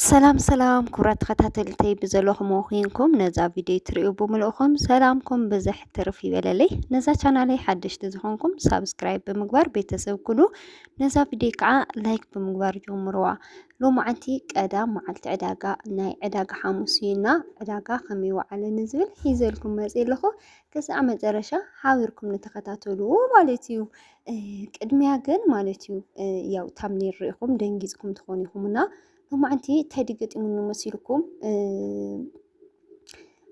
ሰላም ሰላም ክብራት ተኸታተልተይ ብዘለኹም ኮይንኩም ነዛ ቪድዮ ትሪኡ ብምልእኹም ሰላምኩም ብዝሕ ትርፍ ይበለለይ። ነዛ ቻናለይ ሓደሽቲ ዝኾንኩም ሳብስክራይብ ብምግባር ቤተሰብ ኩኑ፣ ነዛ ቪድዮ ከዓ ላይክ ብምግባር ጀምርዋ። ሎማዓንቲ ቀዳም መዓልቲ ዕዳጋ ናይ ዕዳጋ ሓሙስ እዩና ዕዳጋ ከመይ ወዓለኒ ዝብል ሒዘልኩም መፅ ኣለኹ። ክሳዕ መጨረሻ ሓቢርኩም ንተኸታተልዎ ማለት እዩ። ቅድሚያ ግን ማለት እዩ ያው ታምኔል ርኢኹም ደንጊፅኩም ትኾኑ ኢኹም እና ሎማዕንቲ እንታይ ድገጢሙኒ መሲልኩም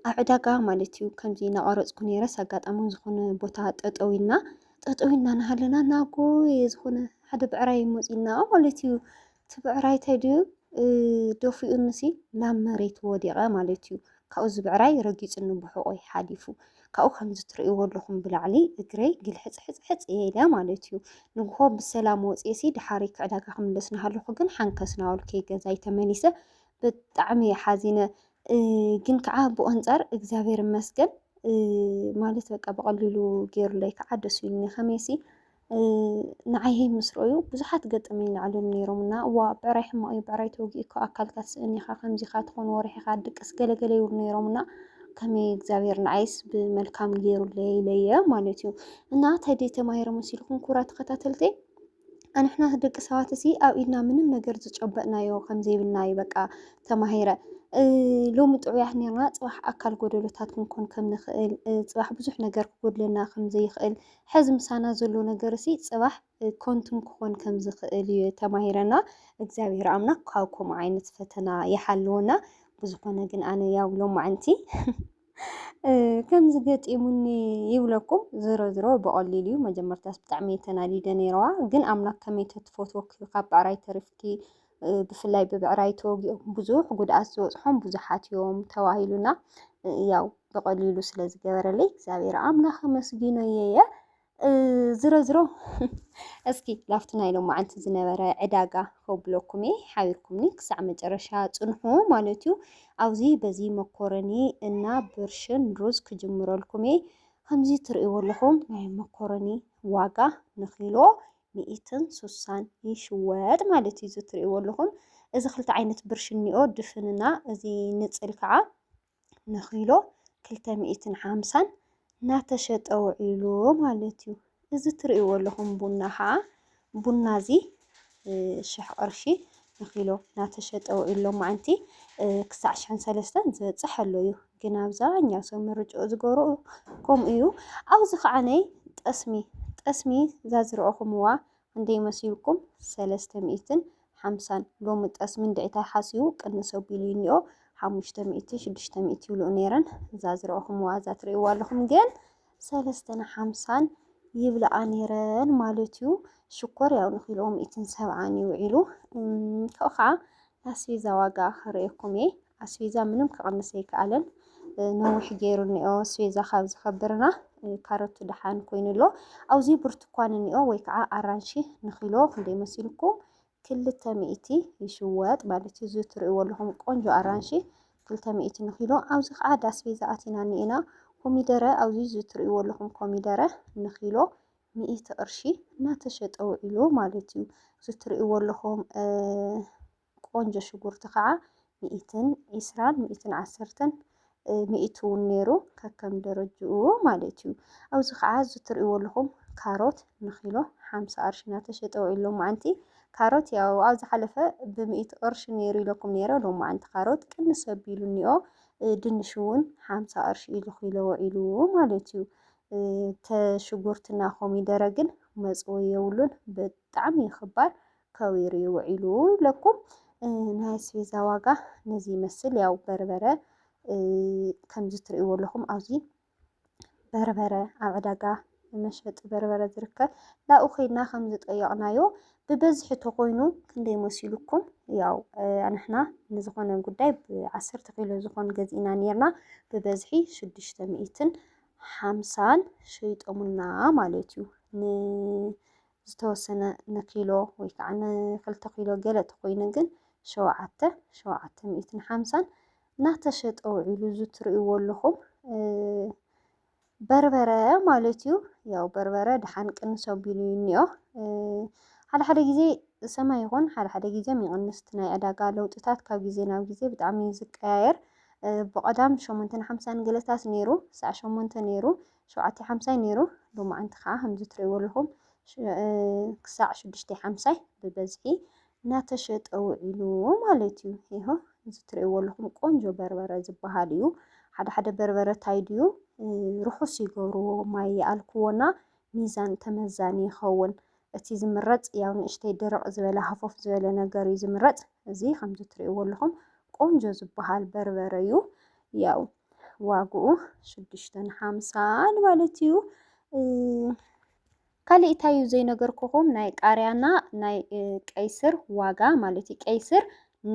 ኣብ ዕዳጋ ማለት እዩ ከምዚ ናቐረፅኩ ነይረስ ኣጋጣሚ ዝኾነ ቦታ ጠጠው ኢልና ጠጠው ኢልና ናሃለና ናጎ ዝኾነ ሓደ ብዕራይ መፂና ማለት እዩ እቲ ብዕራይ ተድዩ ደፊኡኒሲ ናብ መሬት ወዲቐ ማለት እዩ። ካብኡ እዚ ብዕራይ ረጊፁኒ ብሕቆይ ሓሊፉ ካብኡ ከምዚ ትርእይዎ ኣለኹም ብላዕሊ እግረይ ግልሕፅሕፅሕፅ እየ ኢለ ማለት እዩ። ንግሆ ብሰላም ወፅኤሲ ድሓሪ ክዕዳጋ ክምለስ እናሃለኹ ግን ሓንከስ ናበልኩ ገዛይ ተመሊሰ ብጣዕሚ እየ ሓዚነ። ግን ከዓ ብኡ ኣንፃር እግዚኣብሔር ይመስገን ማለት በቃ ብቐሊሉ ገይሩለይ ከዓ ደስ ኢሉኒ ከመይሲ ንዓይ ህይ ምስ ረኣዩ ብዙሓት ገጠመኝ ይለዓሉኒ ነይሮምና እዋ ብዕራይ ሕማቕ እዩ ብዕራይ ተወጊእካ ኣካልካ ትስእን ኢኻ ከምዚ ኢኻ ትኾን ወርሒ ኢኻ ድቅስ ገለገለ ይብሉ ነይሮምና ከመይ እግዚኣብሔር ንዓይስ ብመልካም ገይሩለይ ኢለየ ማለት እዩ እና እንታይ ደይ ተማሂረ መሲልኩም ኩራ ተኸታተልተይ ኣንሕና ደቂ ሰባት እዚ ኣብ ኢድና ምንም ነገር ዝጨበጥናዮ ከምዘይብልና እዩ በቃ ተማሂረ ሎሚ ጥዑያት ነርና ፅባሕ ኣካል ጎደሎታት ክንኮን ከም ንኽእል ፅባሕ ብዙሕ ነገር ክጎድለና ከም ዘይኽእል ሐዚ ምሳና ዘሎ ነገርሲ ፅባሕ ከንቱን ክኾን ከም ዝኽእል እዩ ተማሂረና እግዚኣብሔር ኣምላክ ካብ ከምኡ ዓይነት ፈተና ይሓልወና ብዝኾነ ግን ኣነ ያው ሎማዓንቲ ከምዚ ገጢሙኒ ይብለኩም ዝሮ ዝሮ ብቐሊሉ እዩ መጀመርታስ ብጣዕሚ እየ ተናዲደ ነይረዋ ግን ኣምላክ ከመይ ተትፈትወኪ ካብ ብዕራይ ተሪፍኪ ብፍላይ ብብዕራይ ተወጊኦም ብዙሕ ጉድኣት ዝበፅሖም ብዙሓት እዮም ተባሂሉና ያው ብቐሊሉ ስለ ዝገበረለይ እግዚኣብሔር ኣምላኽ ኣመስጊኖ እየ ዝሮ ዝሮ እስኪ ላፍቲ ናይ ሎማዓንቲ ዝነበረ ዕዳጋ ከብለኩም እየ ሓቢርኩምኒ ክሳዕ መጨረሻ ፅንሑ ማለት እዩ ኣብዚ በዚ መኮረኒ እና ብርሽን ሩዝ ክጅምረልኩም እየ ከምዚ ትርእይዎ ኣለኹም ናይ መኮረኒ ዋጋ ንኪሎ ሚኢትን ሱሳን ይሽወጥ ማለት እዩ። እዚ ትሪእዎ ኣለኹም እዚ ክልተ ዓይነት ብርሽ እኒኦ ድፍንና እዚ ንፅል ከዓ ንኪሎ ክልተ ሚኢትን ሓምሳን እናተሸጠ ውዒሉ ማለት እዩ። እዚ ትሪእዎ ኣለኹም ቡና ከዓ ቡና እዚ ሽሕ ቅርሺ ንኪሎ ናተሸጠ ውዒሉ ሎማዕንቲ ክሳዕ ሽሕን ሰለስተን ዝበጽሕ ኣሎ እዩ። ግን ኣብዛኛው ሰብ ምርጭኡ ዝገብሮ ከምኡ እዩ። ኣብዚ ከዓነይ ጠስሚ ጠስሚ ዛዝረኦኹምዋ ክንደይ መሲልኩም ሰለስተ ሚእትን ሓምሳን ሎሚ ጠስሚ እንድዒ ታይ ሓሲቡ ቅንስ ኣቢሉ እዩ እኒኦ ሓሙሽተ ሚእቲ ሽዱሽተ ሚእቲ ይብልኡ ነይረን ዛዝረኦኹምዋ ዛትርእይዋ ኣለኹም ግን ሰለስተን ሓምሳን ይብልኣ ነይረን ማለት እዩ። ሽኮር ያው ንኪልኦ ሚእትን ሰብዓን እዩ ውዒሉ። ካብኡ ከዓ ኣስቤዛ ዋጋ ክርእየኩም እየ። ኣስቤዛ ምንም ክቕንስ ኣይከኣለን። ነዊሕ ገይሩ እኒኦ ስቤዛ ካብ ዝኸብርና ካሮቱ ደሓን ኮይኑ ኣሎ ኣብዚ ብርቱኳን እኒኦ ወይ ከዓ ኣራንሺ ንኪሎ ክንደይ መሲልኩም ክልተ ሚእቲ ይሽወጥ ማለት እዩ። እዚ ትርእይዎ ኣለኹም ቆንጆ ኣራንሺ ክልተ ሚእቲ ንኪሎ። ኣብዚ ከዓ ዳስቤዛ ኣቲና እኒኤና። ኮሚደረ ኣብዚ እዚ ትርእይዎ ኣለኹም ኮሚደረ ንኪሎ ሚእቲ ቅርሺ እናተሸጠ ውዒሉ ማለት እዩ። እዚ ትርእይዎ ኣለኹም ቆንጆ ሽጉርቲ ከዓ ሚኢትን ዒስራን ሚኢትን ዓሰርተን ሚኢት እውን ነይሩ ከከም ደረጅኡ ማለት እዩ። ኣብዚ ከዓ እዚ ትሪእዎ ኣለኹም ካሮት ንኪሎ ሓምሳ ቅርሺ እናተሸጠ ውዒሉ ሎማዓንቲ ካሮት ያው ኣብ ዝሓለፈ ብሚኢት ቅርሺ ነይሩ ኢለኩም ነይረ ሎማዓንቲ ካሮት ቅንስ ኣቢሉ እኒኦ ድንሽ እውን ሓምሳ ቅርሺ እዩ ንኪሎ ውዒሉ ማለት እዩ። ተሽጉርትና ኮሚደረ ግን መፅወ የብሉን ብጣዕሚ እዩ ክባር ከዊሩ እዩ ውዒሉ ለኩም ናይ ኣስቤዛ ዋጋ ነዚ ይመስል ያው በርበረ ከምዚ ትርእይዎ ኣለኹም ኣብዚ በርበረ ኣብ ዕዳጋ መሸጢ በርበረ ዝርከብ ላኡ ኮይና ከም ዝጠየቕናዮ ብበዝሒ ተኮይኑ ክንደይ መሲሉኩም ያው ንሕና ንዝኾነ ጉዳይ ብዓሰርተ ኪሎ ዝኾን ገዚእና ነርና ብበዝሒ ሽዱሽተ ሚእትን ሓምሳን ሸይጦሙና ማለት እዩ ዝተወሰነ ንኪሎ ወይ ከዓ ንክልተ ኪሎ ገለ ተኾይኑ ግን ሸውዓተ ሸውዓተ ሚእትን ሓምሳን እናተሸጠ ውዒሉ እዚ ትርእይዎ ኣለኹም በርበረ ማለት እዩ። ያው በርበረ ድሓን ቅንስ ኣቢሉ እዩ እኒኦ ሓደ ሓደ ግዜ ሰማይ ይኹን ሓደ ሓደ ግዜ ይቕንስ እቲ ናይ ዕዳጋ ለውጥታት ካብ ግዜ ናብ ግዜ ብጣዕሚ እዩ ዝቀያየር። ብቐዳም ሸሞንተን ሓምሳን ገለታት ነይሩ ሳዕ ሸሞንተ ነይሩ ሸውዓተ ሓምሳ ዩ ነይሩ ሎማዓንቲ ከዓ ከምዚ ትሪእዎ ኣለኹም ክሳዕ ሽዱሽተ ሓምሳይ ብበዝሒ እናተሸጠ ውዒሉ ማለት እዩ ይሆ እዚ ትሪእዎ ኣለኹም ቆንጆ በርበረ ዝበሃል እዩ። ሓደ ሓደ በርበረ ታይ ድዩ ርሑስ ይገብርዎ ማይ ይኣልክዎና ሚዛን ተመዛኒ ይኸውን። እቲ ዝምረፅ ያው ንእሽተይ ድርቕ ዝበለ ሃፎፍ ዝበለ ነገር እዩ ዝምረፅ። እዚ ከምዚ ትሪእዎ ኣለኹም ቆንጆ ዝበሃል በርበረ እዩ። ያው ዋግኡ ሽዱሽተን ሓምሳን ማለት እዩ። ካልእ እንታይ እዩ ዘይነገርኩኹም ናይ ቃርያና ናይ ቀይስር ዋጋ ማለት እዩ። ቀይስር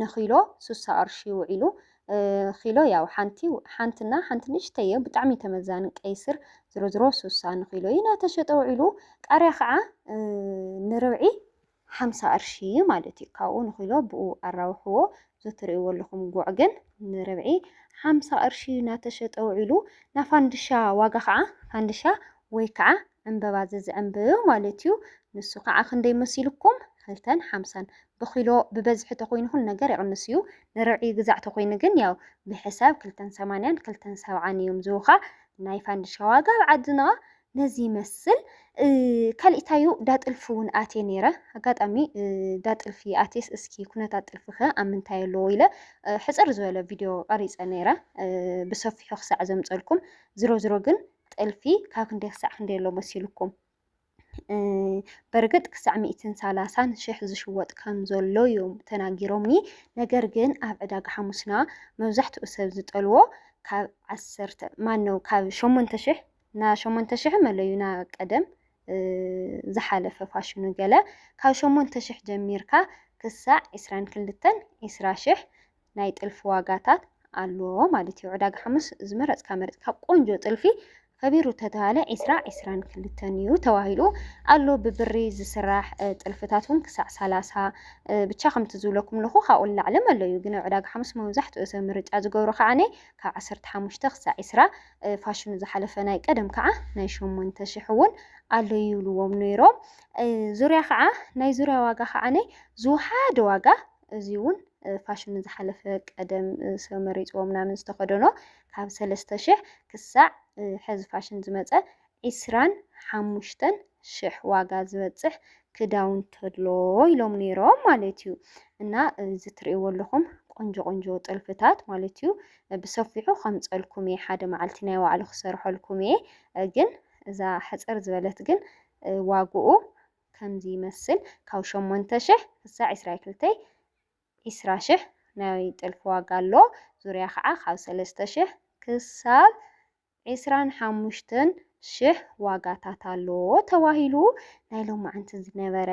ንኪሎ ስሳ ቅርሺ ውዒሉ ኪሎ ያው ሓንቲ ሓንትና ሓንቲ ንእሽተይ እዮ ብጣዕሚ ተመዛኒ ቀይስር ዝሮ ዝሮ ስሳ ንኪሎ እዩ ናተሸጠ ውዒሉ ቃርያ ከዓ ንርብዒ ሓምሳ ቅርሺ ማለት እዩ ካብኡ ንኪሎ ብኡ ኣራውሕዎ እዚ እትርእይዎ ኣለኹም ጉዕ ግን ንርብዒ ሓምሳ ቅርሺ ናተሸጠ ውዒሉ ናፋንድሻ ዋጋ ከዓ ፋንድሻ ወይ ከዓ ዕምበባ ዘዝዕምብ ማለት እዩ ንሱ ከዓ ክንደይ መሲልኩም ክልተን ሓምሳን ብኪሎ ብበዝሒ ተኮይኑ ኩሉ ነገር ይቕንስ እዩ ንርብዒ ግዛዕ ተኮይኑ ግን ያው ብሕሳብ ክልተን ሰማንያን ክልተን ሰብዓን እዮም ዝውኻ ናይ ፋንድሻ ዋጋ ኣብ ዓድና ነዚ ይመስል ካሊእታዩ ዳጥልፊ እውን ኣትየ ነይረ ኣጋጣሚ ዳጥልፊ ኣትየስ እስኪ ኩነታት ጥልፊ ከ ኣብ ምንታይ ኣለዎ ኢለ ሕፅር ዝበለ ቪድዮ ቀሪፀ ነይረ ብሰፊሑ ክሳዕ ዘምፀልኩም ዝሮ ዝሮ ግን ጥልፊ ካብ ክንደይ ክሳዕ ክንደይ ኣሎ መሲልኩም በርግጥ ክሳዕ ሚእትን ሰላሳን ሽሕ ዝሽወጥ ከም ዘሎ እዮም ተናጊሮምኒ። ነገር ግን ኣብ ዕዳጋ ሓሙስና መብዛሕትኡ ሰብ ዝጠልዎ ካብ ዓሰርተ ማነው ካብ ሸሞንተ ሽሕ ና ሸሞንተ ሽሕ መለዩ ና ቀደም ዝሓለፈ ፋሽኑ ገለ ካብ ሸሞንተ ሽሕ ጀሚርካ ክሳዕ ዕስራን ክልተን ዕስራ ሽሕ ናይ ጥልፊ ዋጋታት ኣሎ ማለት እዩ። ዕዳጋ ሓሙስ ዝመረጽካ መረጽካ ቆንጆ ጥልፊ ከቢሩ ተተባለ ዕስራ ዕስራን ክልተን እዩ ተባሂሉ ኣሎ። ብብሪ ዝስራሕ ጥልፍታት እውን ክሳዕ ሰላሳ ብቻ ከምቲ ዝብለኩም ኣለኹ ካብኡ ንላዕሊ መለዩ ግን ዕዳጋ ሓሙስ መብዛሕትኡ ሰብ ምርጫ ዝገብሮ ከዓነ ካብ ዓሰርተ ሓሙሽተ ክሳዕ ዕስራ ፋሽኑ ዝሓለፈ ናይ ቀደም ከዓ ናይ ሸሞንተ ሽሕ እውን ኣሎ ይብልዎም ነይሮም። ዙርያ ከዓ ናይ ዙርያ ዋጋ ከዓ ዝወሓደ ዋጋ እዚ እውን ፋሽኑ ዝሓለፈ ቀደም ሰብ መሪፅዎ ምናምን ዝተኸደኖ ካብ ሰለስተ ሽሕ ክሳዕ ሕዚ ፋሽን ዝመፀ ዕስራን ሓሙሽተን ሽሕ ዋጋ ዝበጽሕ ክዳውንቲ ኣሎ ኢሎም ኔሮም ማለት እዩ እና እዚ ትርእይዎ ኣለኹም ቆንጆ ቆንጆ ጥልፍታት ማለት እዩ ብሰፊሑ ከምጸልኩም እየ ሓደ መዓልቲ ናይ ባዕሉ ክሰርሐልኩም እየ ግን እዛ ሕጽር ዝበለት ግን ዋግኡ ከምዚ ይመስል ካብ ሸሞንተ ሽሕ ክሳዕ ዕስራ ክልተይ ዕስራ ሽሕ ናይ ጥልፊ ዋጋ ኣሎ ዙርያ ከዓ ካብ ሰለስተ ሽሕ ክሳብ ዒስራን ሓሙሽተን ሽሕ ዋጋታት ኣሎ ተባሂሉ ናይ ሎማዓንቲ ዝነበረ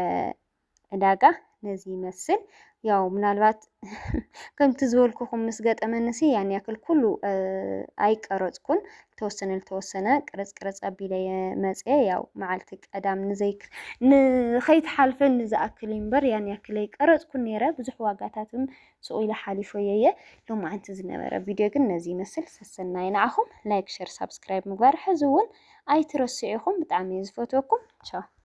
ዕዳጋ ነዚ ይመስል ያው ምናልባት ከምቲ ዝበልኩኹም ምስ ገጠመንሲ ያን ያክል ኩሉ ኣይቀረጽኩን ተወሰነ ልተወሰነ ቅርጽ ቅርጽ ኣቢለ መጽየ ያው መዓልቲ ቀዳም ንዘይ ንኸይትሓልፈኒ ዝኣክል እምበር ያን ያክል ኣይቀረጽኩን ነይረ ብዙሕ ዋጋታትም ስቁ ኢለ ሓሊፈዮ እየ ሎማዓንቲ ዝነበረ ቪድዮ ግን ነዚ ይመስል ሰሰናዩ ንዓኹም ላይክ ሸር ሳብስክራይብ ምግባር ሕዚ እውን ኣይትረስዑ ኢኹም ብጣዕሚ እየ ዝፈትወኩም ቻው።